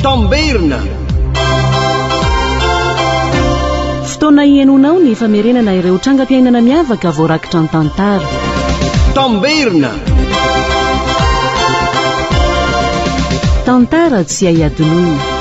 Tamberina. Fotoana hihainoanao ny famerenana ireo trangam-piainana miavaka voarakitra an-tantara. Tamberina. Tantara tsy hay hadinoina.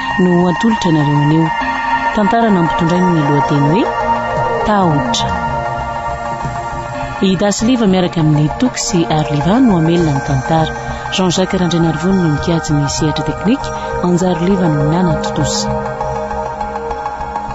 no ho atolotra anareo anio. Tantara nampitondrainy ny lohateny hoe Tahotra. I Dasy Liva miaraka amin'ny Toky sy Ary Liva no hamelona ny tantara. Jean Jacques Randrianarivony no mikajy ny sehatra teknika, Anjaro Liva no nanatontosa.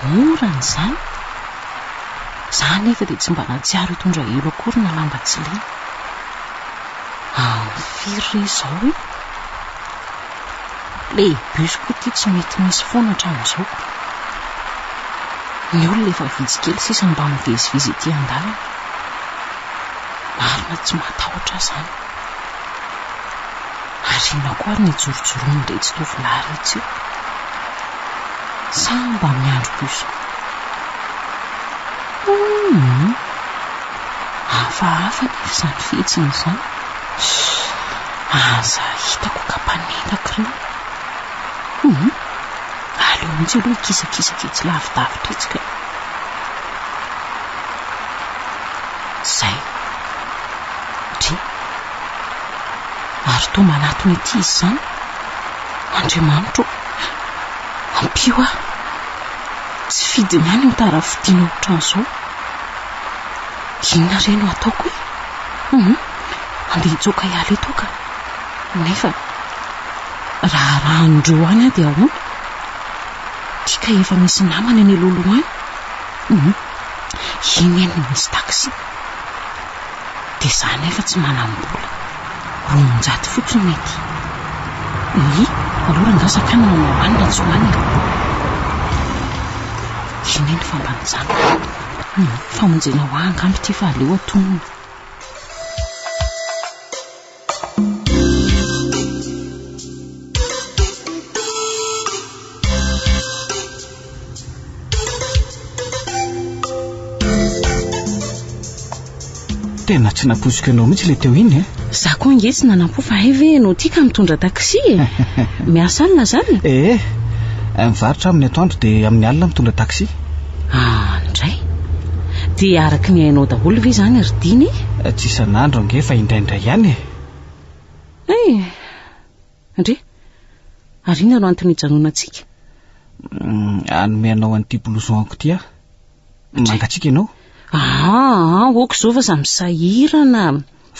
Mora ny izany. Za anefa dia tsy mba nahatsiaro hitondra elo akory na lamba tsy lena. Amin'ny firy re izao e? Ilay bus koa ity tsy mety misy foana hatramin'izao. Ny olona efa vitsy kely sisa mba mivezivezy ety an-dalana. Marina tsy matahotra aho izany. Ary inona koa ary ny jorojoroan'iretsy tovolahy iretsy io? Sa mba miandry bus koa? Humm! Hafahafa anefa izany fihetsiny izany. Aza hitako ka mpanendaka ireo. Humm! Aleo mihitsy aloha hikisakisaka etsy lavidavitra etsy kay. Izay. Dry. Ary toa manatona ity izy izany, Andriamanitro ô, ampio ahy. Tsy fidiny ihany ny tara fidina ohatran'izao. Inona re no ataoko e? Hum, andeha hitsoaka hiala eto aho ka. Nefa raha arahan'ireo any aho dia ahoana? Ity kay efa misy namana eny aloha aloha any. Hum, iny anie no misy taxi. Dia za nefa tsy manam-bola. Roanjato fotsiny nety. Oy, aloha rangaha sakana na hoany na tsy hoany e. Iny anie ny famba nijanona. Humm, famonjena ho ahy angamba ity fa aleo atonina. Tena tsy nampoiziko ianao mihitsy le teo iny e. Za koa nge tsy nanampo fa hay ve ianao tika mitondra taxi e. Miasa alina zany? Eh, mivarotra aminy atoandro dia amin'ny alina mitondra taxi. Ah, indray? Dia araka ny hainao daholo ve izany ry Dina e? Tsy isan'andro ange fa indraindray ihany e! Eh! Ndry! Ary inona no antony ijanonantsika? Hanome anao an'ity blouson-ko ity aho. Mangatsiaka ianao? Ah, ok izao fa samy sahirana.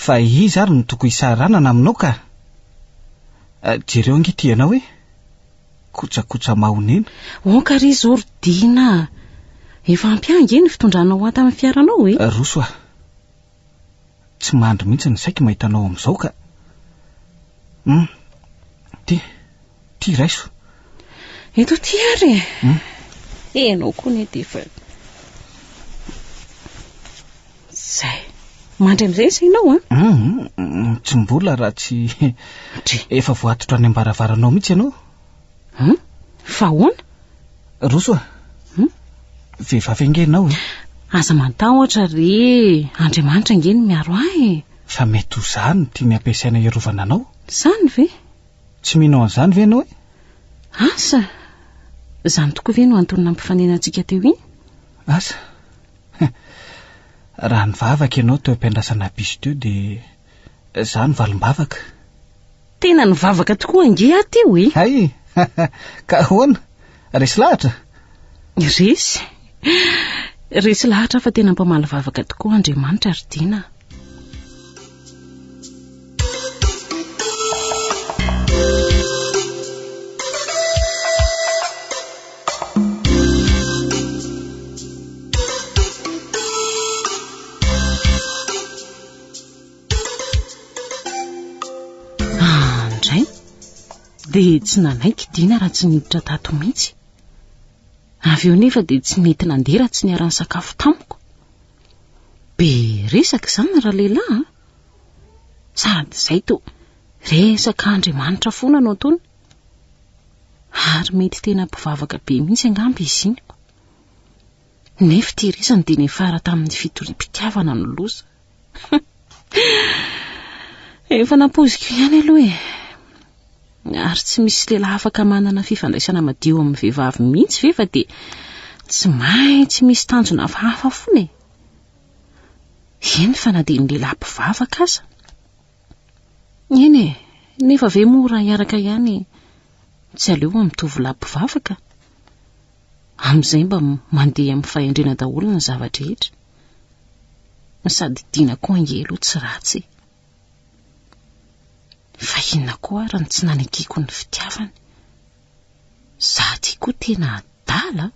Fa iza ary no tokony hisahiranana aminao ka? Jereo ange ity ianao e! kojakoja mahonena. Onka ry Zordina a! Efa ampy ahy ange ny fitondranao enta amin'ny fiaranao e! Roso a! Tsy mandry mihitsy ny saiko mahita anao amin'izao ka! Hum! Ty, ty raiso! Eto ty ary e! Hum! Ianao koa anie dia efa... Zay. Mandry amin'izay sa ianao an? Ah? Hum, tsy mbola raha tsy Dry. efa voatotra any am-baravaranao mihitsy ianao. Hum? Fa ahoana? Roso a. Hum? Vehivavy ange ianao e. Aza mantahotra re. Andriamanitra ange no miaro ahy e. Fa mety ho za no tiany ampiasaina hiarovana anao. Zany ve? Tsy mino an'izany ve ianao e? Asa! Zany tokoa ve no antony nampifanenantsika teo iny? Asa. Raha nivavaka ianao teo am-piandrasana bus teo dia izaho no valim-bavaka. Tena nivavaka tokoa ange aho teo e! Hay! Ka ahoana? Resy lahatra? Resy? Resy lahatra aho fa tena mpamaly vavaka tokoa Andriamanitra ry Dina a! dia tsy nanaiky dina raha tsy niditra tato mihitsy avy eo nefa dia tsy nety nandeha raha tsy niara-nisakafo tamiko Be resaka izany ralehilahy a! Sady izay toa resaka Andriamanitra foana no ataony. Ary mety tena mpivavaka be mihitsy angamba izy iny. Nefa ity resany dia niafara tamin'ny fitoriam-pitiavana ny loza. Efa nampoiziko ihany aloha e. Ary tsy misy lehilahy afaka manana fifandraisana madio amin'ny vehivavy mihitsy ve fa dia tsy maintsy misy tanjona hafahafa foana e? Eny fa na dia ny lehilahy mpivavaka aza. Eny e, nefa ve moa raha hiaraka ihany tsy aleo amin'ny tovolahy mpivavaka? Amin'izay mba mandeha amin'ny fahendrena daholo ny zava-drehetra. Sady Dina koa ange aloha tsy ratsy e. Fa inona koa ary no tsy nanekeko ny fitiavany? Za ty koa tena adala a!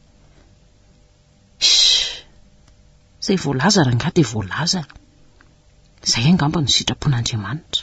Shhh! Zay voalaza rangahy dia voalaza e! Zay angamba no sitrapon'Andriamanitra.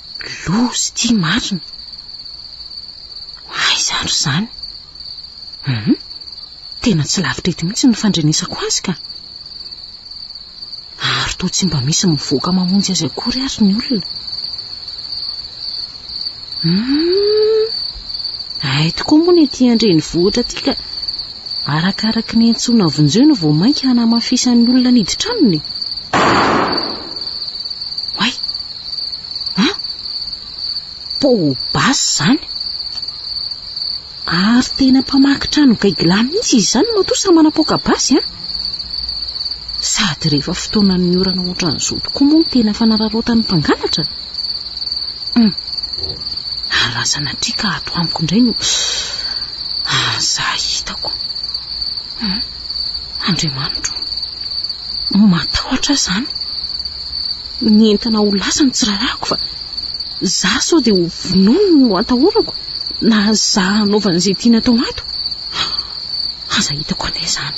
Loza ity marina. Aiza ary izany? Hum, tena tsy lavitra eto mihitsy ny fandrenesako azy ka. Ary toa tsy mba misy mivoaka mamonjy azy akory ary ny olona. Hum, ay tokoa moa ny ety an-drenivohitra ity ka arakaraka ny antsoina vonjeo no vao mainka hanamafisan'ny olona niditra aminy. Oay! An? Poa basy izany. Ary tena mpamaky trano gaigilahy mihitsy izy izany matoa samy manapoaka basy an? Sady rehefa fotoanan'ny orana ohatran'izao tokoa moa no tena fanararaotan'ny mpangalatra. Hum. Ary raha sanatria ka ato amiko indray no... Ah, za hitako. Hum. Andriamanitro. Matahotra aho izany. Ny entana ho lasa no tsy rarahako fa za sao dia ho vonoiny no atahorako na za hanaovany izay tiany atao ato. Aza hitako anie izany.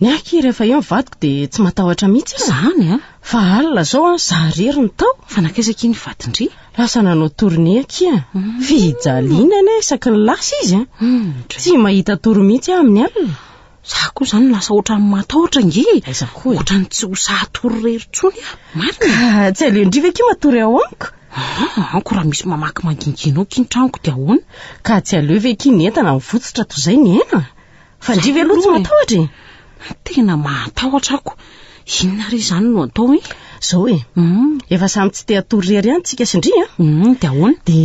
Ny ahy rehefa eo ny vadiko dia tsy matahotra mihitsy aho. Izany a? Fa alina izao an, za irery no tao. Fa nankaiza akia ny vadin-dry? Lasa nanao tournée akia. Hmm. Fijaliana anie isaky ny lasa izy an. Hmm, tsy mahita tory mihitsy aho amin'ny alina. Za koa izany lasa ohatran'ny matahotra nge. Aiza koa e? Ohatran'ny tsy ho sahy hatory irery intsony aho. Marina? Ka tsy aleon-dry ve akia matory ao amiko? Ah, anko raha misy mamaky mangingianao akia ny tranoko dia ahoana? Ka tsy aleo ve akia ny entana mivotsotra toy izay ny aina? Fa ndry ve aloha tsy matahotra e? Tena mahatahotra ako. Inona re izany no atao e? Zao e, mm. efa samy tsy te hatory rery any tsika sy ndry a. Mm, de ahoana? De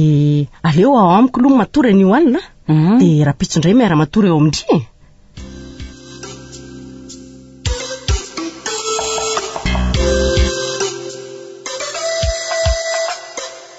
aleo ao amiko aloha matory anio alina, mm. de rapitso ndray miara matory eo amindry e.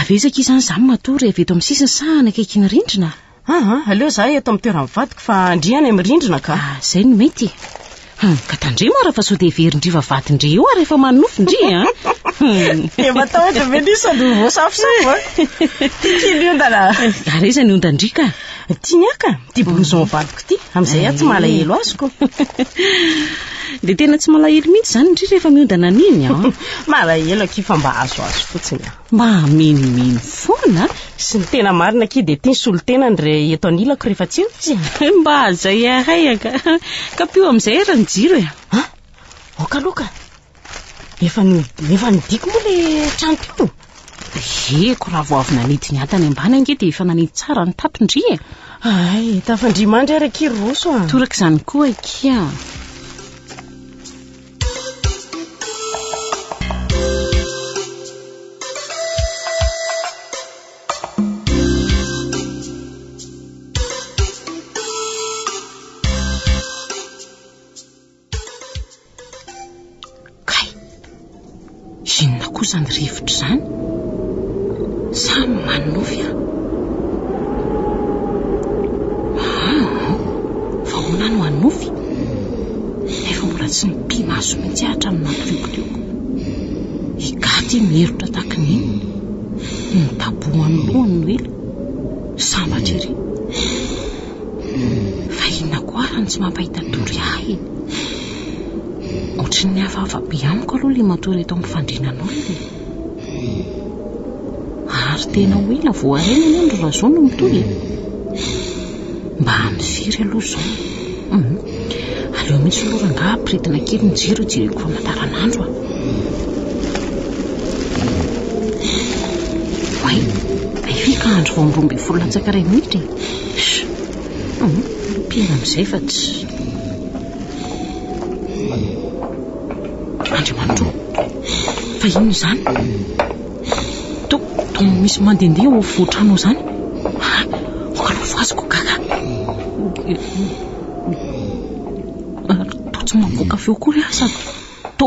Avy aiza akia izany izany matory avy eto amin'ny sisiny sa any akaikin'ny rindrina? Aha, aleo za eto amin'ny toeran'ny vadiko fa ndry any amin'ny rindrina ka. Ah, izay no mety. Hum, ka tandremo ara fa sao dia heverin-dry vavahadin-dry eo ary efa manonofy ndry e. Hum. Dia matahotra ve ndry sandry ho voasafosafo a? Tiky ny ondana. Ary aiza ny ondan-dry ka? Tiany aka ty blouson valiko ty, amin'izay aho tsy malahelo azoko. Dia tena tsy malahelo mihitsy izany ndry rehefa miodana an'iny an. Malahelo akia fa mba azoazo fotsiny an. Mba hamenomeno foana. Sy ny tena marina akia dia tia ny solon-tenany re eto anilako rehefa tsy eo izy an. Mba zay ahay aka. Kapio amin'izay ary ny jiro e. Aoka aloha ka. Efa no efa nidiko moa le trano teo. Heko raha vao avy nanidy ny antany ambany ange dia efa nanidy tsara ny tato ndry e. Ay, tafandria mandry ary akia ry Roso a. Toraka izany koa akia. Kay! Inona koa izany rivotra izany? Sa manonofy aho? Aa! Vahoana no hanonofy? Nefa mbola tsy nipi-maso mihitsy aho hatramin'ny nampiriokorioko. I Gaty miherotra tahaka ny inona? Nidabohan'ny lohany Noely, sambatra ery. Fa inona koa ary no tsy mampahita tory ahy e? Ohatran'ny hafahafa be amiko aloha ilay matory eto amin'ny fandrianan'olona e. Ary tena ho ela vao harena anie ny razao no mitohy e. Mba amin'ny firy aloha izao? Hum, aleo mihitsy aloha rangahy ampiretina kely ny jiro hijereko famataranandro a. Oay, hay ve ka andro vao amin'ny roa ambin'ny folo latsaka iray minitra e? Mpiaina amin'izay fa tsy... Andriamanitro, fa inona izany? To, to misy mandehandeha ao afovoan-trano ao izany. Ah, marovo azy ko gaga. Ary to tsy mamoaka feo akory aho sady to...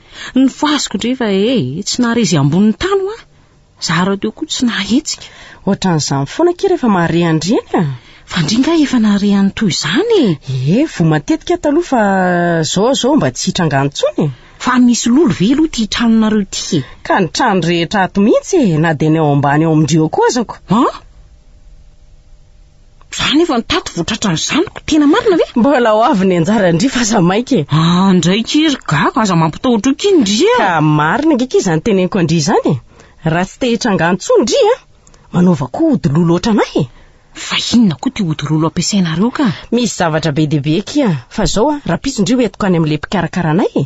Ny fasoko ndry fa e, tsy nahare izay ambonin'ny tany hoa. Za rahateo koa tsy nahetsika. Ohatran'izany foana akia rehefa mahare an-dry eny a. Fa ndry nga efa nahare an'ny toy izany e. Ee, voa matetika aho taloha fa zao zao mba tsy hitranga intsony e. Fa misy lolo ve aloha ity tranonareo ity e? Ka ny trano rehetra ato mihitsy e, na dia ny ao ambany ao amin-dry eo koa azako. An? Za nefa ny tato votratra ny zanako, tena marina ve? Mbola ho avy ny anjara ndry fa aza maika e. Ah, ndray ki ry gaga, aza mampitahotra eo ki ndry a. Ka marina ange ki izany teneniko an-dry izany e. Raha tsy te hitranga intsony ndry a, manaova koa ody lolo ohatranay e. Fa inona koa ty ody lolo ampiasainareo ka? Misy zavatra be dia be ki a. Fa zao a, rahampitso ndry ho entiko any amin'ilay mpikarakara anay e.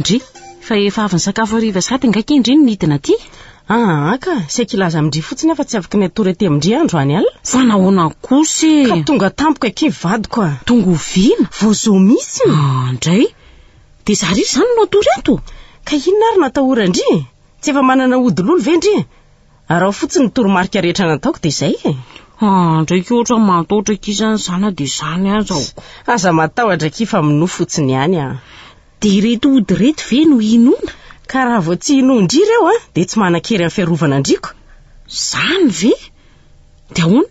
Ndry, fa efa avy nisakafo hariva sahady angaha kay ndry no nidina aty? Aa ka, saiky hilaza amin-dry fotsiny aho fa tsy afaka ny hatory aty amin-dry aho androany alina. Fa nahoana kosa e? Ka tonga tampoka akia vadiko a! Tonga oviana? Vao zao mihitsy! Aa ndray, dia za ry izany no hatory ato? Ka inona ary no atahoran-dry? Tsy efa manana ody lolo ve ndry? Araho fotsiny ny toromarika rehetra nataoko dia izay e. Ah, ndraiky ohatra matahotra aky izany izany dia izany aza aho. Aza matahotra aky fa minoa fotsiny ihany ah. Dia ireto ody ireto ve no hinoana? Ka raha vao tsy hinoa indry ireo ah, dia tsy manan-kery amin'ny fiarovana andriako. Izany ve? Dia ahoana?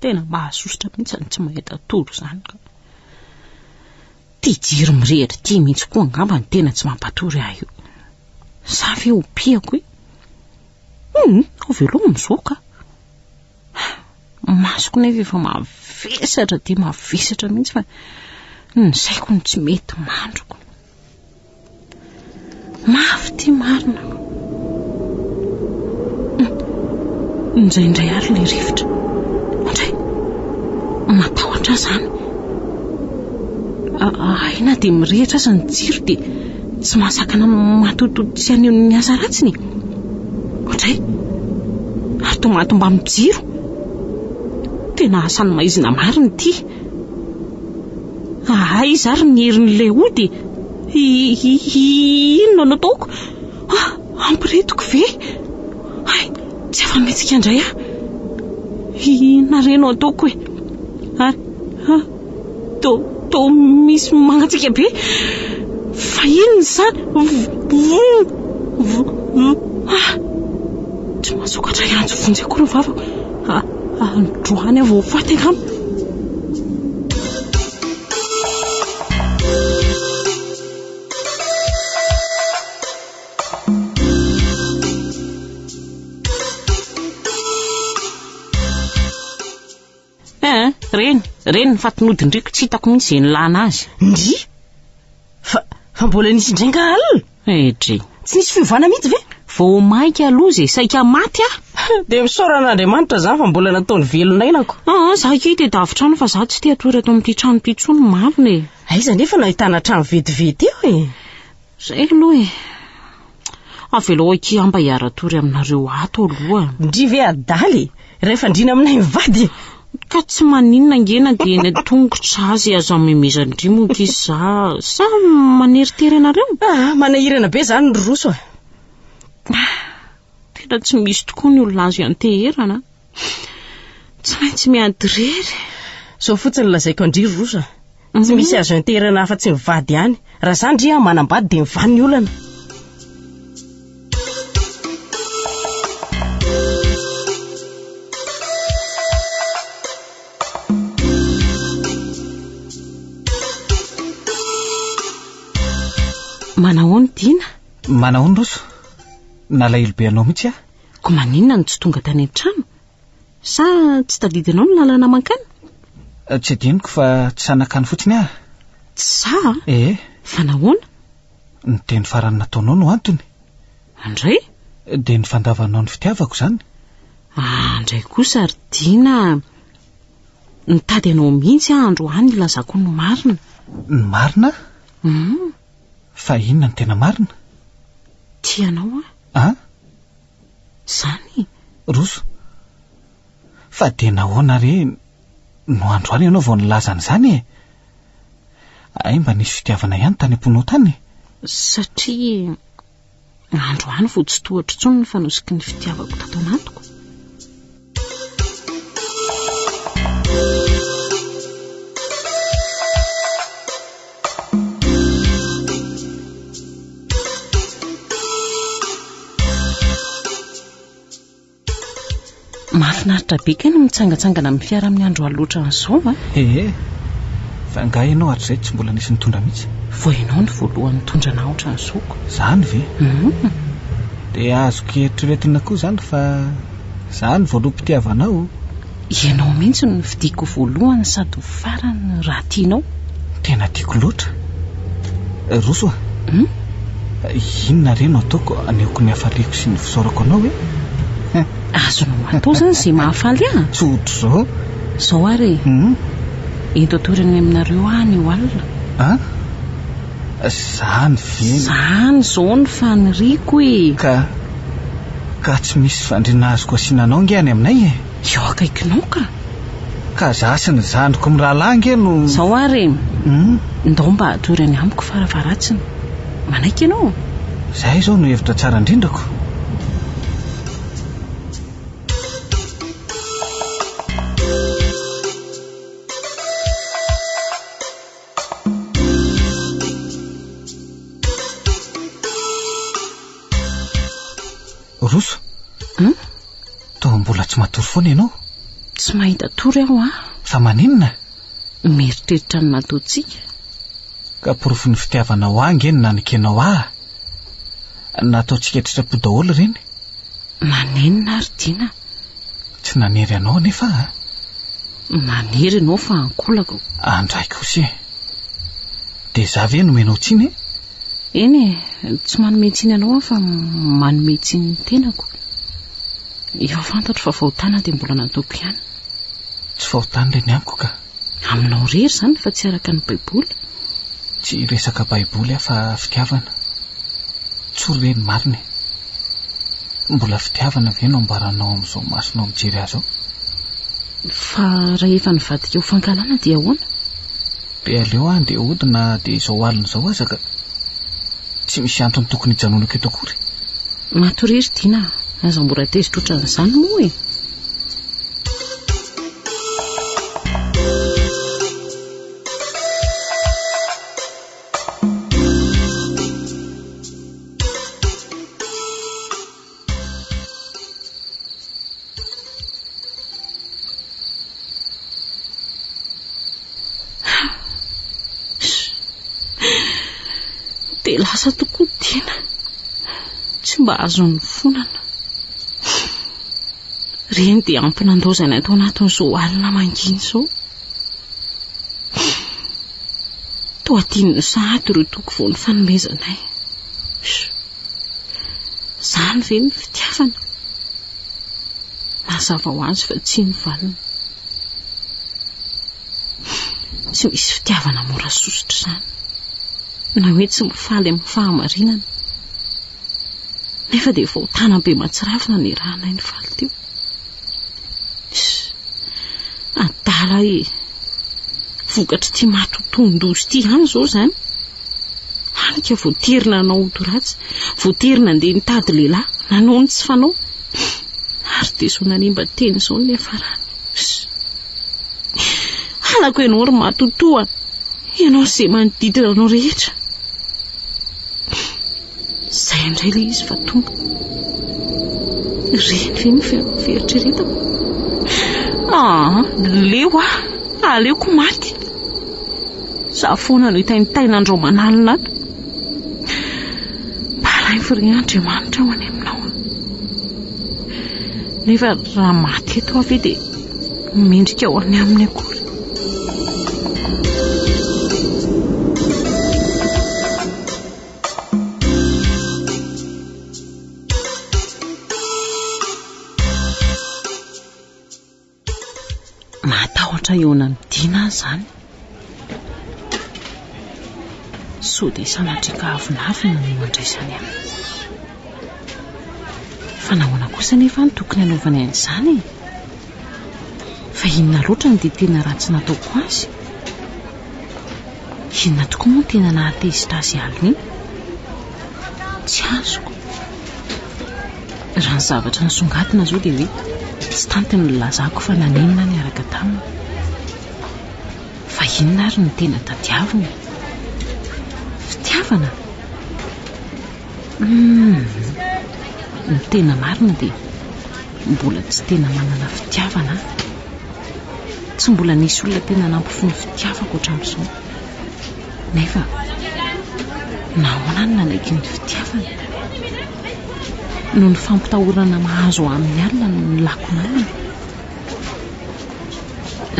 Tena mahasosotra mihitsy izany tsy mahita tory izany ka. Ity jiro mirehitra ity mihitsy koa angamba no tena tsy mampatory ahy io. Sa ve ho piako e? Hum, ho veloma izao ka. Masoko nefa efa mavesatra dia mavesatra mihitsy fa ny saiko no tsy mety mandriko. Mafy ity marina. Indraindray ary ilay rivotra. Indray. Matahotra ahy izany. Hay na dia mirehitra aza ny jiro dia tsy mahasakana matototo tsy haneho ny asa ratsiny. Indray. Ary toa mahatomba amin'ny jiro. Tena asan'ny maizina marina ity. Ahaa iza ary ny herin'ilay ody e? Inona no ataoko? Ah, ampiritiko ve? Hay, tsy afa-mihetsika indray aho. Inona re no ataoko e? Ary, to, to misy mangatsiaka be. Fa inona izany? Ah, tsy mahasokatra hiantso vonjy akory ny vavako. Androany aho vao ho faty angamba. Eeh, reny, reny ny fatin'odin-driako, tsy hitako mihitsy izay nilana azy. Ndrii! Fa, fa mbola nisy indray nga alina? Edry. Tsy nisy fiovana mihitsy ve? Vao maika aloha izay saika maty aho. Dia misaora an'Andriamanitra izany fa mbola nataony velon'ainako. Ah, ah, za kay dia davitra any fa za tsy te hatory ato amin'ity trano ity intsony marina e. Aiza nefa no ahitana trano vetivety eo e? Izay aloha e. Avelao akia aho mba hiara-tory aminareo ato aloha. Ndry ve adala e! Iray fandriana aminay mivady e! Ka tsy maninona ange na dia eny an-tongotra azy aza amemezan-dry moa ankizy za sa maneritery anareo? Ah, manahirana be izany ry Roso a! Ah, tena tsy misy tokoa ny olona azo ianteherana. Tsy maintsy miady irery. Izao fotsiny lazaiko an-dry Roso a! Tsy misy azo enterana afa-tsy ny vady ihany. Raha izany ry an, manambady dia mivaha ny olana. Manahoana i Dina? Manahoana Roso? Nalahelo be anao mihitsy aho. Koa maninona no tsy tonga tany an-trano? Sa tsy tadidinao ny lalana mankany? Tsy adinoko fa tsy sahy nankany fotsiny aho. Tsy sahy? Ee. Fa nahoana? Ny teny farany nataonao no antony. Andray? Dia ny fandavanao ny fitiavako izany. Andray kosa ry Dina a! Nitady anao mihitsy aho androany hilazako ny marina. Ny marina? Hum. Fa inona no tena marina? Tia anao aho. An? Zany? Roso, fa dia nahoana re no androany ianao vao nilaza an'izany e? Hay mba nisy fitiavana ihany tany am-pinoa tany e? Satria androany vao tsy tohatro intsony ny fanosiky ny fitiavako tato anatiko. Mahafinaritra be kay ny mitsangatsangana amin'ny fiara amin'ny andro alina ohatran'izao a! Ehe, fa angaha ianao hatrizay tsy mbola nisy nitondra mihitsy? Vao ianao no voalohany nitondra anah ohatran'izao ko! Izany ve? Hum! Dia azoko eritreretina koa izany fa. Za no voaloham-pitiavanao o. Ianao mihitsy no fidiko voalohany sady ho farany raha tianao. Tena tiako loatra. Roso a. Hum? Inona re no ataoko anehoako ny hafaliako sy ny fisaorako anao e? Hum. Azonao atao izany izay mahafaly ahy. Tsy ohatr'izao. Izao ary e. Hum? Ento atorany aminareo ahy ny eo alina. An? Zany ve no. Zany zao ny faniriako e! Ka. Ka tsy misy fandriana azoko asiana anao nge any aminay e! Eo akaikinao ka! Ka za sy ny zandriko mirahalahy nge no. Zao ary e! Hum? Ndao mba atory any amiko faravaratsiny. Manaiky ianao? Zay izao no hevitra tsara indrindrako. Roso hmm? toa mbola tsy matory foana ianao tsy mahita tory aho a fa maninona mieritreritra ny nataontsika ka porofon'ny fitiavanao ange ny nanikenao ah Nataontsika an-tsitrapo daholo ireny. Manenina ary Dina. Tsy nanery anao anefa a. Manery ianao fa ankolako. Andraiko kosa e. Dia za ve nomenao tsiny e? Eny e, tsy manome tsiny anao aho fa manome tsiny ny tenako. Efa fantatro fa fahotana dia mbola nataoko ihany. Tsy fahotana ilay ny amiko ka. Aminao rery izany fa tsy araka ny baiboly. Tsy resaka baiboly aho fa fitiavana. Tsory ve ny marina e? Mbola fitiavana ve no ambaranao amin'izao masonao mijery ahy izao? Fa rahefa nivadika ho fankahalana dia ahoana? Dia aleo aho andeha hody na dia izao alina izao aza ka. Tsy misy antony tokony hijanonako eto akory. Matoria ry Dina a! Aza mora tezitra ohatran'izany moa e! dia lasa tokoa Dina tsy mba azon'ny fonana Ireny dia ampy nandaozany ato anatin'izao alina mangina izao. Toa tian'ny sahady ireo toky vao nifanomezanay. Izany ve ny fitiavana? Mazava ho azy fa tsy ny valiny. Tsy misy fitiavana mora sosotra izany. Na hoe tsy mifaly amin'ny fahamarinana. Nefa dia vao tany Ampimatsirafy nanirahanay ny faly teo. Adala e! Vokatr'ity maty tohindoza ity ihany izao izany. Hany ka voatery nanao odoratsy, voatery nandeha nitady lehilahy, nanao ny tsy fanao. Ary dia izao nanimba teny izao ny niafarany. Halako ianao ry matotoa, ianao sy izay manodidina anao rehetra. Izay indray ilay izy fa tonga. Reny ve ny fieritreretako? Ah, leo ah, aleoko maty. Za foana no hitaintaina an-draomanalina ato. Balainfo re Andriamanitra aho any aminao. Nefa raha maty eto aho ve dia mendrika ho any aminy akory. Mahatahotra eo anamidina aho izany. Sao dia sanatria ka avonavona no andraisany ahy? Fa nahoana kosa anefa no tokony hanaovany an'izany e? Fa inona loatra no dia tena ratsy nataoko azy? Inona tokoa moa no tena nahatezitra azy hihaloina? Tsy azoko. Raha ny zavatra nisongadina izao dia hoe tsy tanty ny nilazako fa nanenina ahy niaraka taminy. Fa inona ary no tena tadiaviny e? Fitiavana? Humm! Ny tena marina dia mbola tsy tena manana fitiavana aho. Tsy mbola nisy olona tena nampify ny fitiavako hatramin'izao. Nefa nahoana aho no nanaiky ny fitiavana? Noho ny fampitahorana mahazo ahy amin'ny alina no nilako namana.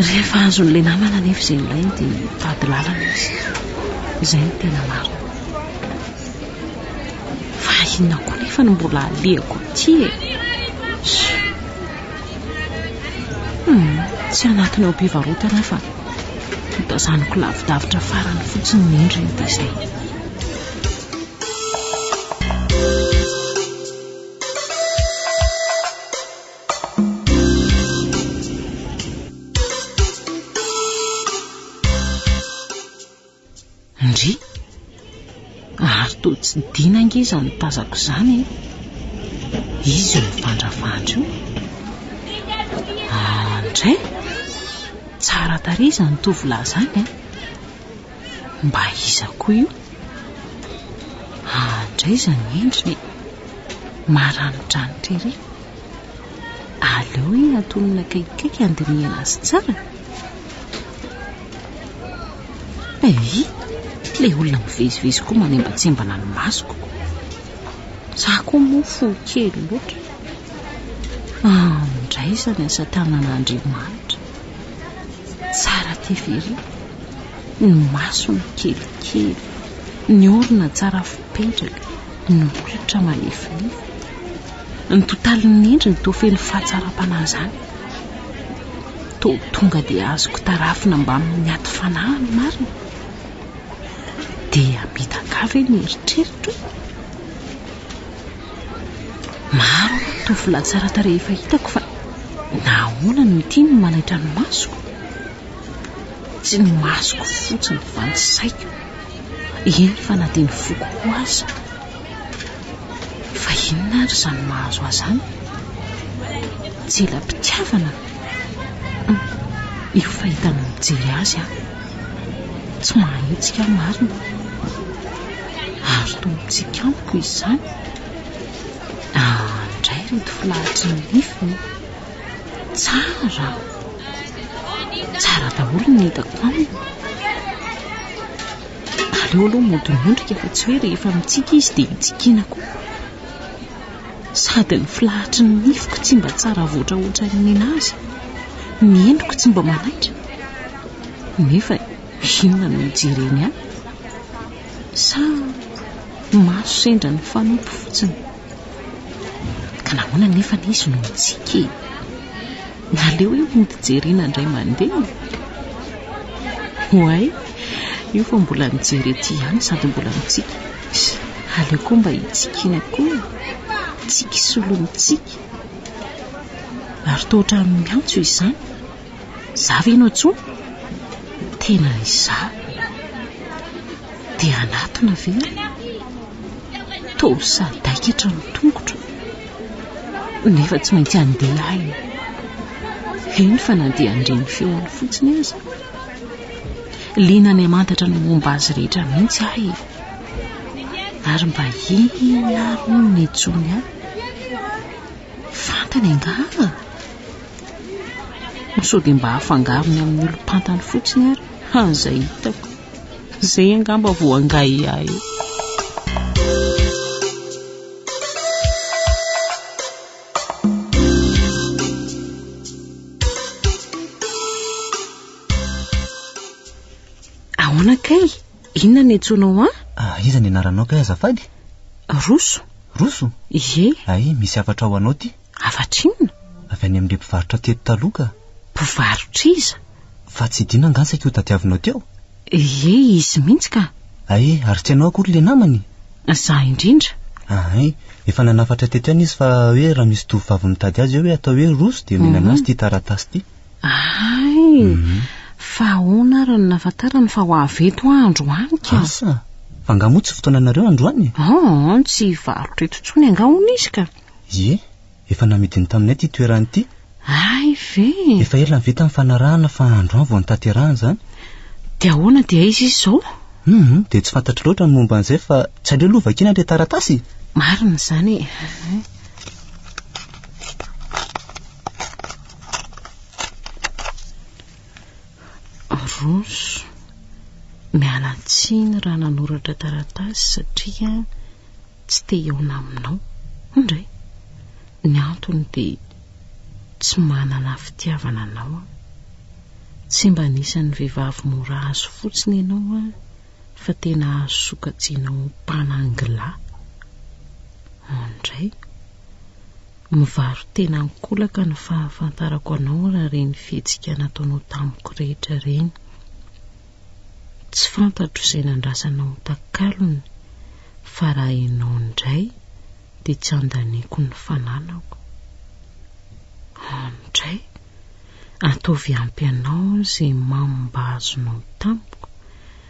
Rehefa azon'ilay namana anefa izay nilainy dia mitady lalana izy. Izay no tena marina. Fa inona koa anefa no mbola alehako aty e? Hum, tsy anatiny ao am-pivarotana aho fa notazaniko lavidavitra farany fotsiny ny endriny dia izay. Ndry! Ary toa tsy dina ange izany tazako izany e! Iza io mivandravandra io? Ah, ndray! Tsara tarehy izany tovolahy izany e! Mba iza koa io? Ah, ndray izany endriny e! Maranidranitra ery! Aleo anie antonina akaikikaiky handinihana azy tsara. Hey, ilay olona mivezivezy koa manembatsembana ny masoko. Za koa moa fo kely loatra. Andraisany asa tanan'Andriamanitra. Tsara tia very. Ny masony kelikely. Ny orona tsara fipetraka. Ny molotra malefolefo. Ny totalin'ny endriny toa feno fahatsaram-panahy izany. Toa tonga dia azoko tarafina mbamin'ny aty fanahy ny marina. Dia midakà ve ny eritreritro? Maro aloha ny tovolahy tsara tarehy efa hitako fa nahoana no ity no manaitra ny masoko? Tsy ny masoko fotsiny fa ny saiko, eny fa na dia ny foko koa aza. Fa inona ary izany mahazo ahy izany? Tsy ela mpitiavana? Hum, io fa hitany mijery azy aho. Tsy mahahetsika aho marina. Ary toa mitsiky amiko izy izany. Ah, indray ireto filahatry ny nifiny. Tsara. Tsara daholo ny hitako aminy. Aleo aloha mody miondrika fa tsy hoe rehefa mitsiky izy dia hitsikiana koa. Sady ny filahatry ny nifiko tsy mba tsara avoatra ohatran'ny ninazy, ny endriko tsy mba manaitra. Nefa inona no hijereny ahy? Sa maso sendra ny fanompo fotsiny? Ka nahoana anefa anie izy no mitsiky e? Naleo io mody jerena indray mandeha e! Oay, io fa mbola mijery ety ihany sady mbola mitsiky. Aleo koa mba hitsikiana koa e! Tsiky solon'ny tsiky. Ary toa ohatran'ny miantso izany. Za ve no antsoy? Tena izaho. Dia anatona ve aho? Toa sadaikatra ny tongotro. Nefa tsy maintsy handeha aho e. Heno fa na dia handre ny feony fotsiny aza. Liana ny hamantatra ny momba azy rehetra mihitsy aho e. Ary mba inona ary hono no nijony ahy? Fantany angaha? Ho sao dia mba afangarony amin'ny olom-pantany fotsiny ary, ha, izay hitako. Izay angamba vao angahiahy eo. Ahoana kay? Inona ny antsoinao an? Ah, iza ny anaranao kay azafady? Roso. Roso? Ie. Ay, misy hafatra ho anao ty. Hafatra inona? Avy any amin'ilay mpivarotra teto taloha ka. Mpivarotr'iza? Fa tsy Dina angaha saika io tadiavinao teo? Ie, izy mihitsy ka. Ay, ary tsy ianao akory ilay namany? Izaho indrindra. Ahay, efa nanafatra teto ihany izy fa hoe raha misy tovovavy mitady azy eo hoe atao hoe Roso dia omena an'azy ity taratasy ity. Hay! Fa ahoana ary no nahafantarany fa ho avy eto aho androany ka? Asa! Fa angaha moa tsy fotoananareo androany e? An, tsy hivarotra eto intsony angaha hono izy ka? Ie, efa namidiny taminay ity toerana ity. Hay ve! Efa ela ve tamin'ny fanarahana fa androany vao notanterahana izany? Dia ahoana dia aiza izy izao? Hum, dia tsy fantatro loatra ny momba an'izay fa tsy aleo aloha vakiana ilay taratasy e! Marina izany e! Aronso, miala tsiny raha nanoratra taratasy satria tsy te hihaona aminao. Indray, ny antony dia tsy manana fitiavana anao aho. Tsy mba anisan'ny vehivavy mora azo fotsiny ianao an, fa tena azo sokajiana ho mpanangilahy. Indray. Mivaro-tena an-kolaka ny fahafantarako anao raha ireny fihetsika nataonao tamiko rehetra ireny. Tsy fantatro izay nandrasanao takalony fa raha ianao indray dia tsy andaniako ny fananako. Andray, ataovy ampy anao izay mamo mba azonao tamiko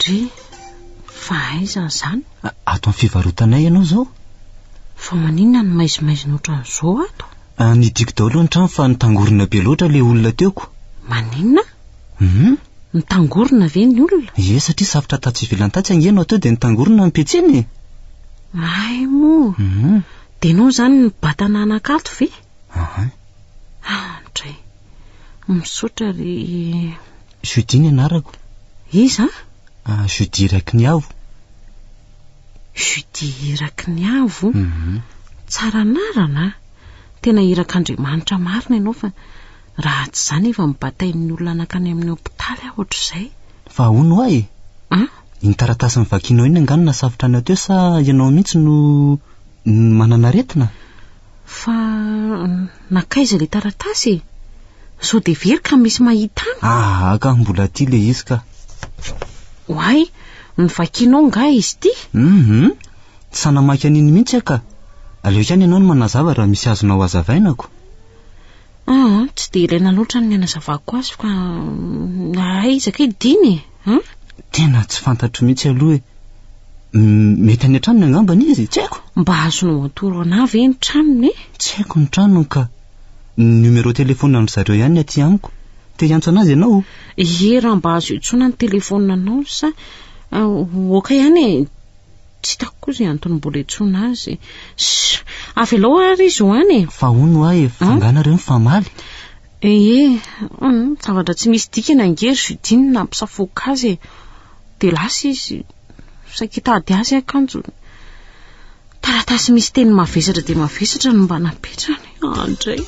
Dry, fa aiza izany? Ato amin'ny fivarotanay ianao izao. Fa maninona no maizimaizina ohatran'izao ato? Ah, nidiko daholo ny trano fa nitangorona be loatra ilay olona teoko. Maninona? Hum? Nitangorona ve ny olona? Ie, satria safotra tatsy ivelany tatsy ange no atao dia nitangorona ny petsiny e. Hay moa. Hum. Dia ianao izany nibata nanakato ve? Ahay. Ah, dry. Misaotra ry... Judy ny anarako. Iza? Ah, Judy Rakiniavo. Judy Rakiniavo? Mhm. Tsara anarana a! Tena irak'Andriamanitra marina ianao fa raha tsy izany efa nibatain'ny olona nankany amin'ny hopitaly aho ohatr'izay. Fa ahoana hoa e? An? Iny taratasy novakianao iny angaha no nasafotra anao teo sa ianao mihitsy no manana aretina? Fa nankaiza ilay taratasy e? Sao dia very ka misy mahita an? Aha ka, mbola aty ilay izy ka. Oay, novakianao nga izy ity? Mhm, tsy sahy namaky an'iny mihitsy aho ka. Aleo ihany ianao no manazava raha misy azonao hazavaina ko. Aa, tsy dia ilaina loatra ny hanazavako azy fa aiza kay dina e? An? Tena tsy fantatro mihitsy aloha e. Mety any an-tranony angamba ny izy, tsy haiko. Mba azonao atoro anà ve ny tranony e? Tsy haiko ny tranony ka. Ny numéro téléphone an-dry zareo ihany ny aty amiko. Te hiantso an'azy ianao? Ie raha mba azo iantsoana ny telefaonina anao sa ok ihany e. Tsy hitako koa izay antony mbola iantsoana azy. Shh! Avelao ary izy ho any e! Fa hono hoa e, fa angaha nareo mifamaly? Ee, hum, zavatra tsy misy dikany ange ry Judine nampisafoaka azy e. Dia lasa izy. Saika hitady azy akanjo. Taratasy misy teny mavesatra dia mavesatra no mba napetrany. Ah, ndray.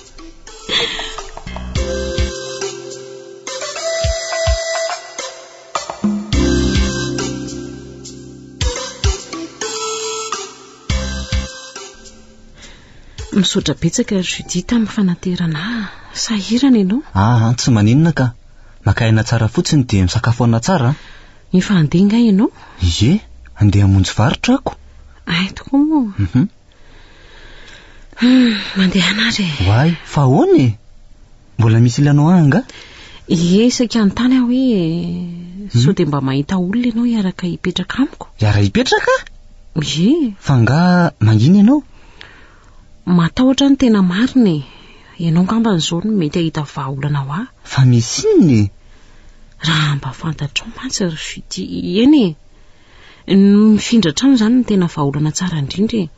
Misaotra betsaka ry Judith amin'ny fanaterana ahy. Sahirana ianao? Ah, tsy maninona ka. Maka aina tsara fotsiny dia misakafo aina tsara. Efa handeha nga ianao? Ie, handeha hamonjy varotra ako. Ay tokoa moa. Mhm. Hmm, mandehana ary e. Why? Fa ahoana e? Mbola misy ilana ho ahy nga? Ie, isaky hanontany aho hoe hmm? sao dia mba mahita olona ianao hiaraka hipetraka amiko? Hiara hipetraka? Ie. Fa nga mangina ianao? Matahotra ny tena marina e. Ianao ngamba an'izao no mety hahita vahaolana ho ahy. Fa misy inona e? Raha mba fantatrao mantsy ry Judy, eny e. Ny mifindra trano izany no tena vahaolana tsara indrindra e!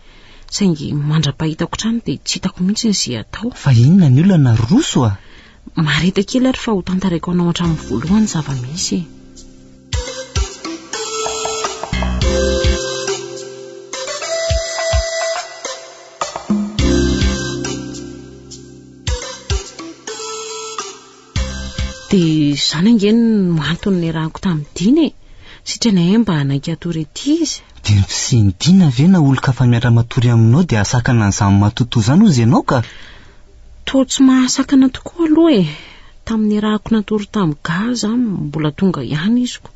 Saingy mandra-pahitako trano dia tsy hitako mihitsy ny ze atao. Fa inona ny olana ry Roso a? Mareta kely ary fa ho tantaraiko anao hatramin'ny voalohany ny zava-misy e! Dia izany ange no antony niarahako tamin'i Dina e! Sitrana ahy mba hanaiky hatory ety izy. Dia ny fisian'i Dina ve na olon-kafa miara-matory aminao dia hahasakana an'izany matotoa izany hozy ianao ka? Toa tsy mahasakana tokoa aloha e! Tamin'ny niarahako natory tamin'i Ga aza mbola tonga ihany iziko.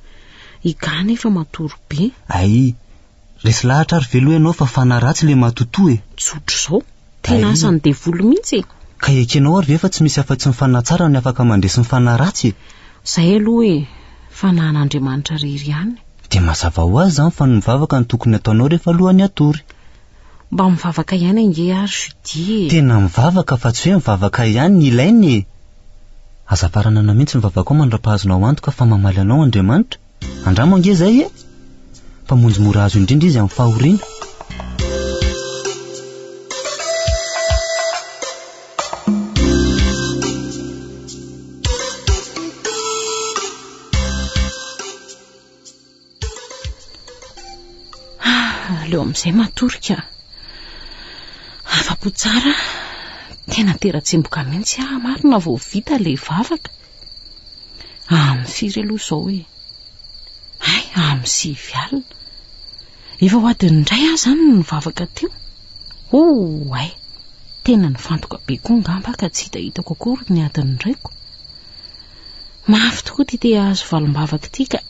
I Ga anefa matory be. Ay, Resy lahatra ary veloo ianao fa fanahy ratsy ilay matotoa e! Tsotra izao. Tena asan'ny devoly mihitsy e! Ka ekenao ary ve fa tsy misy afa-tsy ny fanahy tsara ny afaka mandresy ny fanahy ratsy e! Izay aloha e! Fanahin'Andriamanitra irery ihany. Dia mazava ho azy izany fa ny mivavaka no tokony ataonao rehefa alohan'ny hatory. Mba mivavaka ihany ange ary Judy e! Tena mivavaka fa tsy hoe mivavaka ihany ny ilaina e! Aza faranana mihitsy ny vavakao mandra-pahazonao antoka fa mamaly anao Andriamanitra. Andramo ange zay e! Mpamonjy mora azo indrindra izy amin'ny fahoriana. aleo amin'izay matory ka afa-po tsara tena tera-tsemboka mihitsy aho marina vao vita ilay vavaka Amin'ny firy aloha izao e? Hay, amin'ny sivy alina. Efa ho adin'ny iray aho izany no nivavaka teo. Oh, hay, tena nifantoka be koa ngamba ka tsy hita hitako akory ny adin'ny iraiko. Mafy tokoa ity te hahazo valimbavaka ity ka.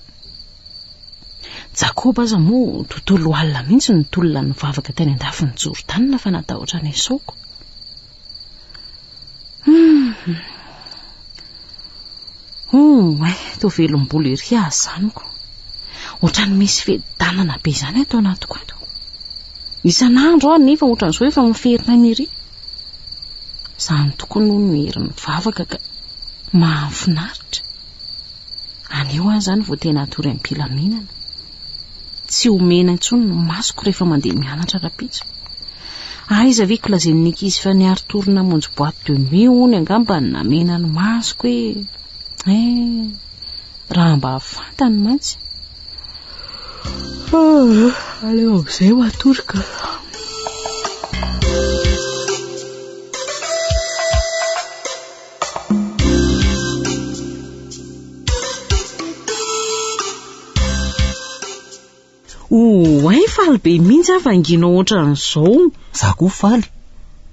Jakoba aza moa tontolo alina mihitsy ny tolona nivavaka teny an-dafin'i Jordana fa natahotra ny esaoko. Hum, eh, to velom-bolo ery azy zaniko. Otrany misy fedanana be izany ato anatiko ato. Isan'andro aho nefa ohatran'izao efa miferina ny ery. Zany tokoa no ny hery mivavaka ka mahafinaritra. Anio aho zany vao tena atory am-pilaminana. Tsy omena intsony ny masoko rehefa mandeha mianatra rapitso. Aiza ve ko lazain'ny ankizy fa niary tour namonjy boîte de nuit hono angamba ny namena ny masoko e. Eh, raha mba fantany mantsy. Ah, aleo amin'izay ho atoroka. Oay faly be mihitsy aho vanginao ohatran'izao. Za koa faly.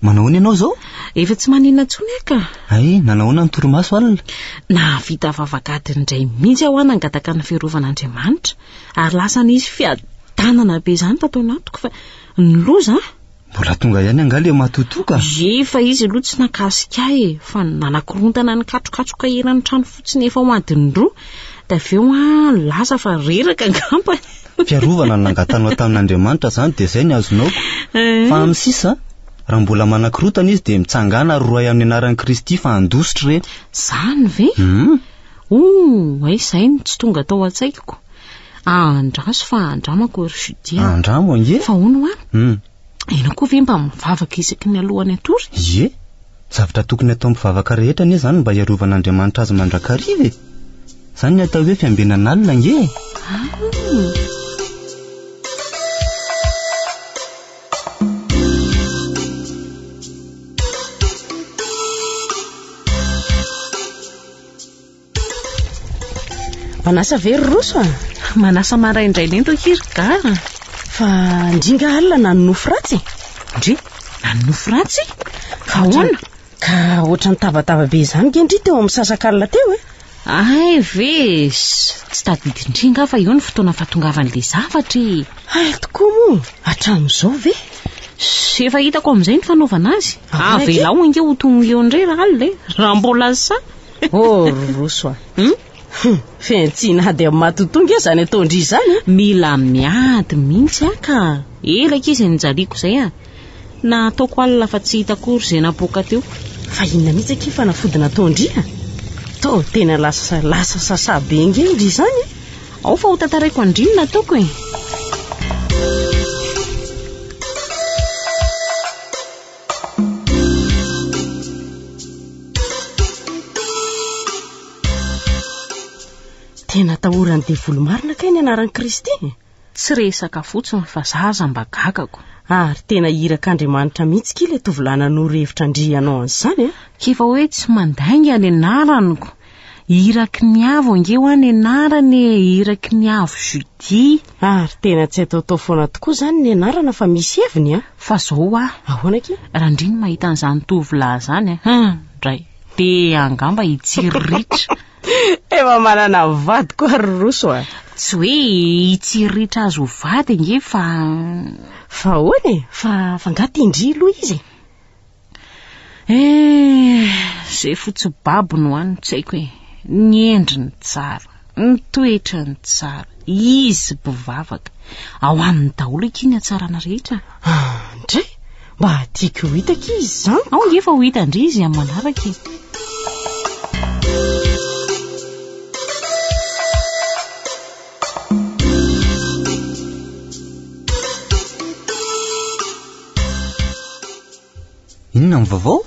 Manahoana ianao izao? Efa tsy maninona intsony aho ka. Ay, nanahoana ny torimaso alina? Nahavita vavak'ady indray mihitsy aho nangataka ny firovan'Andriamanitra ary lasa nisy fiadanana be izany tato anatiko fa ny loza Mbola tonga ihany angaha le matotoa ka? Ye fa izy aloha tsy nakasika ahy e, fa ny nanakorontana ny katrokatroka eran'ny trano fotsiny efa ho adiny roa, dia avy eo an, lasa fa reraka angamba e. Fiarovana no nangatanao tamin'Andriamanitra izany dia izay ny azonao ko. Fa amin'ny sisa, raha mbola manakorontana izy dia mitsangàna ary rohay amin'ny anaran'i Kristy fa handositra ireny. Izany ve? Hum. Ooh, aiza ahy no tsy tonga tao an-tsaiko. Andraso fa andramako ry Judia. Andramo ange. Fa hono hoa? Hum. Ianao koa ve mba mivavaka isaky ny alohan'ny hatory? Ie, zavatra tokony atao mpivavaka rehetra anie izany mba hiarovan'Andriamanitra azy mandrakariva e. Izany ny atao hoe fiambenan'alina ange e. Ah. Manasa ve ry Roso a? Manasa maraindraina ento akia ry Ga a! Fa ndringa alina na ny nofy ratsy e! Ndry, na ny nofy ratsy? Fa ahoana? Ka ohatran'ny tabataba be izany nge ndry teo amin'ny sasakalina teo e! Ay ve e! Tsy tadidin-dry nga fa eo ny fotoana fahatongavan'ilay zavatra e! Hay tokoa moa, hatramin'izao ve? Ze efa hitako amin'izay ny fanaovana azy. Avelao ange ho tongony eo indray raha alina e. Raha mbola sa. Oh ry Roso a. Hum? Hum, fihantsiana ady amin'ny matotoa nge izany ataon-dry izany e. Mila miady mihitsy aho ka. Ela akia izay nijaliako izay a. Na ataoko alina fa tsy hita akory izay napoaka teo. Fa inona mihitsy akia fanafody nataon-dry a. Toa tena lasa lasa sasa be nge indry izany e. Ao fa ho tantaraiko andrinona toko e. Tena atahoran'ny devoly marina kay ny anaran'i Kristy. Tsy resaka fotsiny fa za aza mba gagako. Ary tena iraka Andriamanitra mihitsy kila tovolahy nanoro hevitra andrianao an'izany a. K'efa hoe tsy mandainga ny anaraniko Iraky ny avo ange hoa nenarana e Iraky ny avo Judy. Ary tena tsy ataotao foana tokoa izany ny anarana fa misy heviny an! Fa zao hoa. Ahoana akia? Randria ny mahita an'izany tovolahy izany an! Hum! Dray! Te angamba hitsiry ritra. Efa manana vady koa ry Roso a! Tsy hoe hitsiry ritra azy ho vady ange fa. Fa ahoana e? Fa fa nga te indry loha izy e? Eh, ze fotsy babo no any tsy haiko e. Ny endriny tsara, ny toetrany tsara, izy bivavaka. Ao aminy daholo aky ny hatsarana rehetra. Ah, ndray, mba tiako ho hita aky izy zany. Ao ngefa ho hita ndry izy amin'ny manaraka e. Inona ny vaovao?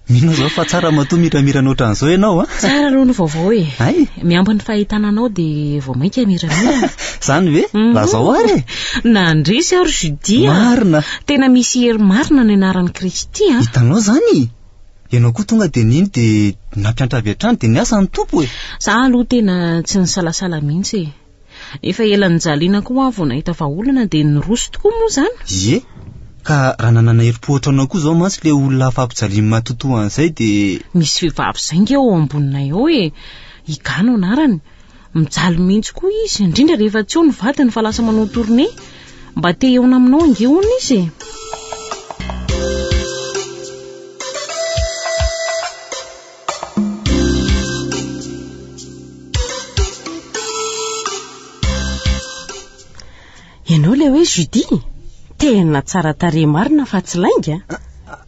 Mino zao fa tsara matoa miramirana ohatran'izao ianao a. Tsara aloha ny vaovao e. Ay. Miampy ny fahitana anao dia vao mainka miramirana. Zany ve? Mhm. Lazao ary e. Nandresy aho ry Judy. Marina. Tena misy hery marina ny anaran'i Kristy a. Hitanao zany? Ianao koa tonga dia nino dia nampiantra avy hatrany dia niasa ny Tompo e. Za aloha tena tsy nisalasala mihitsy e. Efa ela nijaliana koa aho vao nahita fa olana dia niroso tokoa moa izany. Ie, ka raha nanana herim-po ohatranao koa izao mantsy ilay olona hafa ampijaliany matotoa an'izay dia. Misy vehivavy izay nge ao amboninay ao e! I Ga no anarany. Mijaly mihitsy koa izy, indrindra rehefa tsy eo ny vadiny fa lasa manao tournée. Mba te hihaona aminao ange hono izy e! Ianao ilay hoe Judy? Tena tsara tarehy marina fa tsy lainga. Ah, ah,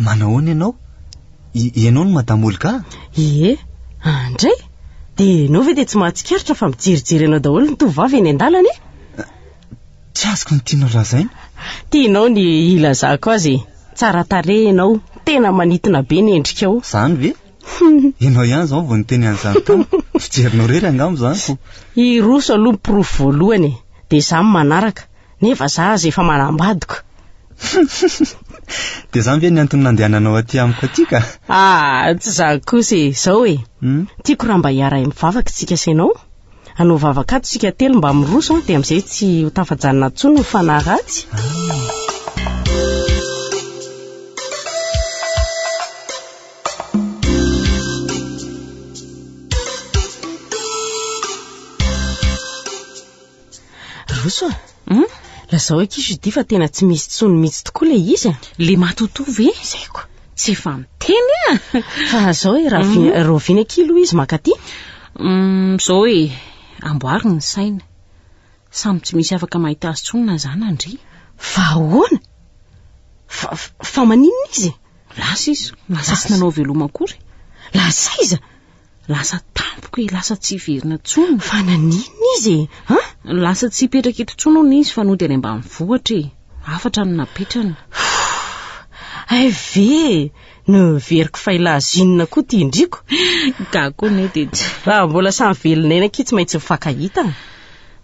manahoana ianao? Ianao no Madame Olga? Ie, andray. Ah, dia ianao ve dia tsy mahatsikaritra fa mijerijery anao daholo ny tovovavy eny an-dalana e? Tsy azoko ny tianao lazaina. Tianao ny hilazako azy e. Tsara tarehy ianao, tena manintona be ny endrikao. Izany ve? Ianao ihany izao vao niteny an'izany tamiko. Fijerinao irery angamba izany ko. Hiroso aloha ny porofo voalohany e, dia izaho ny manaraka, nefa izaho aza efa manambadiko. Dia izany ve ny antony nandehananao aty amiko aty ka? Ah, tsy izany kosa e, izao e. Tiako raha mba hiaraha-mivavaka isika sy ianao. Hanao vavaka ato isika telo mba miroso an, dia amin'izay tsy ho tafajanona intsony ny fanahy ratsy. Roso a. Hum? Lazao akia Judy fa tena tsy misy tsony mitsy tokoa ilay izy a! Le matotoa ve? Izay ko! Tsy efa miteny a! Fa zao e, raha vi- rahoviana akia aloha izy mankaty? Hum, zao e, amboary ny saina. Samy tsy misy afaka mahita azy tsony na za na ndry. Fa ahoana? Fa, fa maninona izy? Lasa izy, lasa tsy nanao veloma akory. Lasa iza? Lasa tampoka e, lasa tsy hiverina tsony. Fa naninona izy e? Ha? Lasa tsy hipetraka eto tsony hono izy fa nody any ambanivohitra e. Hafatra no napetrany. Hay ve noheveriko fa ilay zinona koa ity indriko. Gaga koa anie dia tsy. Raha mbola samy velona eny akia tsy maintsy mifankahita.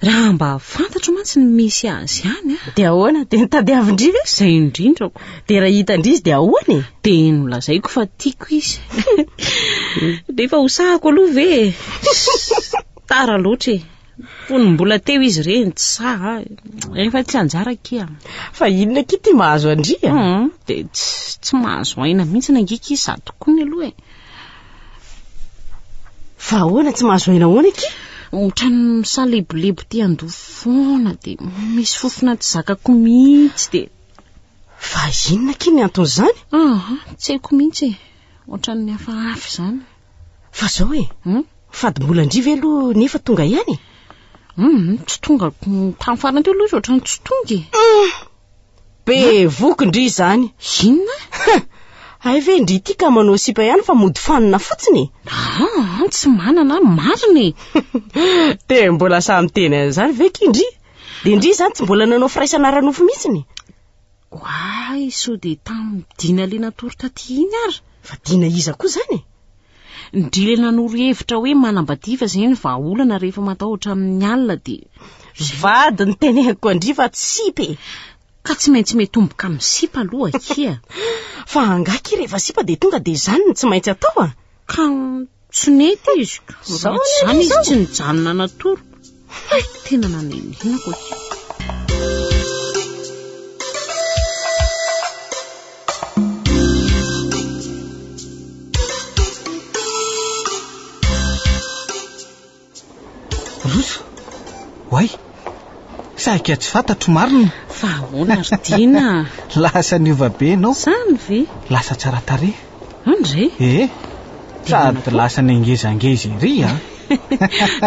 Raha mba fantatro mantsy ny misy azy any a. Dia ahoana? Dia nitadiavin-dry ve? Izay indrindrako. Dia raha hitan-dry izy dia ahoana e? Dia nolazaiko fa tiako izy. Dia efa hosahako aloha ve e? Tara loatra e. Fony mbola teo izy ireny, tsy saha. Efa tsy anjara kia. Fa inona akia ity mahazo an-dry a? Dia tsy mahazo aina mihitsy nangika izy sady tokony aloha e. Fa ahoana tsy mahazo aina ahoana aky? Otrany misalebolebo ty ando foana de misy fofona tsy zakako mihitsy de. Fa inona aky ny anton'izany? Ah, tsy haiko mihitsy. E. Otrany hafahafa izany. Fa zao e. Hmm? Fady mbola ndry ve aloha nefa tonga ihany? Hmm, tsy tonga tamin'ny farany teo aloha izy otrany tsy tonga e. Hmm. Be voky ndry izany. Inona? Huh! Hay ve ndry ity ka manao sipa ihany fa mody fanina fotsiny e. Ah, tsy manana an, marina e. Dia mbola sahy miteny an'izany ve ki ndry? Dia ndry izany tsy mbola nanao firaisana ara-nofo mihitsiny? Oay, sao dia tamin'ny dina le natory taty iny ary. Fa dina iza koa izany e? Ndryy nanoro hevitra hoe manambadiva izay ny vahaolana rehefa matahotra amin'ny alina dia Ry vady ny teneniko an-dry fa tsy sipa e! Ka tsy maintsy miatomboka amin'ny sipa aloha akia. Fa angaha akia rehefa sipa dia tonga dia izany no tsy maintsy atao an! Ka tsy nety izy ka raha tsy izany izy tsy nijanona natory. Haiko tena nanenina hoy. Roso, oay, sahika tsy fantatro marina. Fa ahoana ry Dina? Lasa niova be ianao. Zany ve? Lasa tsara tarehy. Andre? Ee, sady lasa nengezangeza ery an!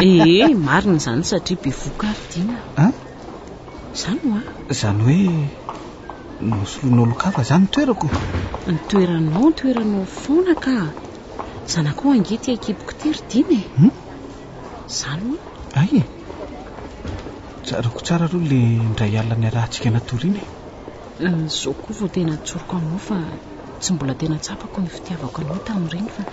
Ee, marina izany satria bevoka ary Dina a! An? Izany hoa! Izany hoe nosoloinao lokava izany ny toerako? Ny toeranao, ny toeranao foana ka! Zanakao ange ity an-kiboko ity ry Dina e! Hum? Izany hoa! Hay e! Tsaroako tsara aloha ilay indray alina niarahantsika natoriana e! Izao koa vao tena an-tsoriko aminao fa tsy mbola tena tsapako ny fitiavako anao tamin'ireny fa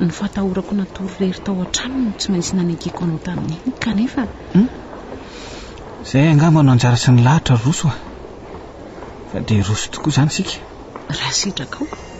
ny fahatahorako natory irery tao an-trano no tsy maintsy nanekeko anao tamin'iny kanefa hmm? Izay angamba no anjara sy ny lahatra roso a. Fa dia roso tokoa izany isika. Raha sitraka ao.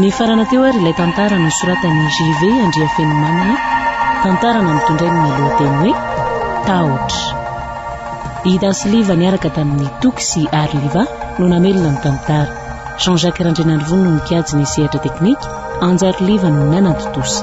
Nifarana teo ary ilay tantara nosoratan'i JV Andriafenomanana, tantara nampitondrainy ny lohateny hoe Tahotra. I Dasiliva niaraka tamin'i Toky sy Arliva no namelona ny tantara. Jean Jacques Randrianarivony no nikajy ny sehatra teknika, Anjariliva no nanatontosa.